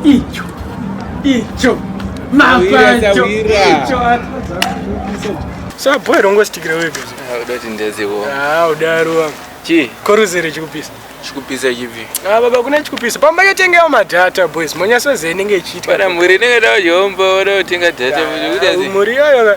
icho icho mapacho icho sabhoy rongostikira wega udati ndeziwo ah udaro wangu chi koruzere chikupisa chikupisa chipi ah baba kuna chikupisa pamba yotengewa madata boys monyaso zee inenge ichiitwa kana mhuri inenge dawo yombo oda kutenga data mhuri yoyo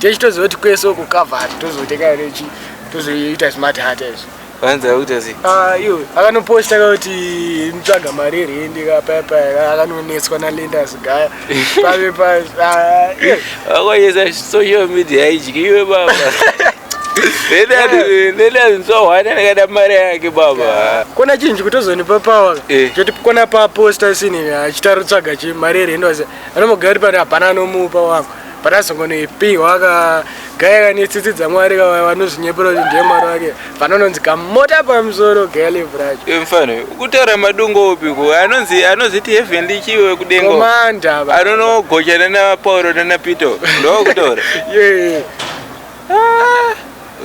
techitoziva kuti kwese uku cover hat tozotenga here chi tozoita smart hat izvo vanzi vakuita sei Ah, iyo akanoposta ka kuti nitsvaga mari yerendi ka paya paya akanonetswa nalendas gaya pave pa ah, iyo. vakoyesa social media haidyi iwe baba nenazvinzwahwana ndakada mari yake baba kona chinji kutozonipa pawa Eh. choti kona paposta sini achitarutsvaga chi mari yerendi wase anomogari pano hapana anomupa wangu but azongonoipihwa ka gaya kane tsitsi dzamwari ka vanozvinyepera kuti ndiye mwari wake vanononzi kamota pamusoro gaya levhu racho Iwe mfana uyu, ukutaura madungo upi ko anonzi anozviti heavenly chiwe kudengo komanda ava. anonogocha nana pauro nana peter ndokutaura Yeah.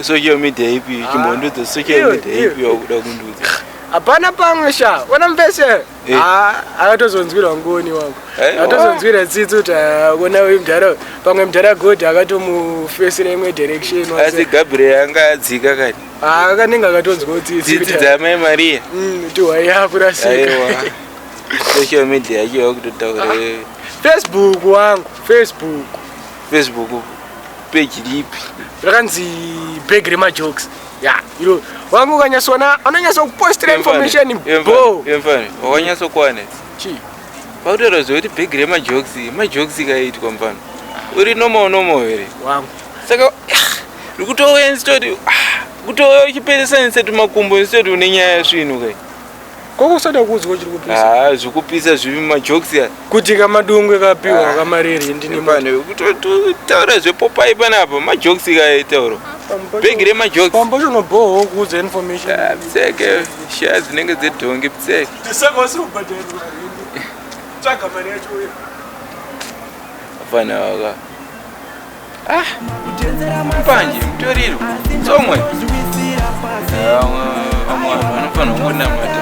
social media ipi chimbondudza social Iwe, media iwe. ipi wakuda kundudza hapana pamwe sha ona mbese Eh. Ah, akatozonzwirwa ngoni wangu eh, akatozonzwira tsitsi kuti akona ah, mdhara pamwe mdhara god akatomufesera imwe direction asi gabriel anga adzika kani ah, akanenge akatonzwawo tsitsitsitsi dzamai maria mm, tiwai akurasika social media yacho yakutotaura facebook wangu facebook facebook page lipi rakanzi bag remajokes Yeah, iro wangu ukanyasona anonyasa kupostira information bo. Yemfani, wakanyasa kwane. Chi. Pautero zvokuti bag rema jokes, ma jokes kaitwa mfana. Uri normal normal here? Wangu. Saka ndikutowe instead ah, kutowe uchiperesa instead makumbo instead une nyaya yasvinu kai. Ko kusada kuudzwa chiri kupisa. Ah, zvokupisa zviri majokes ya. Kuti kama dungwe kapiwa ah. kama riri ndini mwana. Kuto taura zvepopai panapa majokes kaye tauro. Big re majokes. Pambo chono boho kuudza information. Ah, pseke shares dzinenge dzedhongi pseke. Tisaka wasiri kubhadhara mari. Tsvaga mari yacho uya. Afana waka. Ah, mbanje mutoriro tsomwe vamwe vanhu vanofanira kungonamata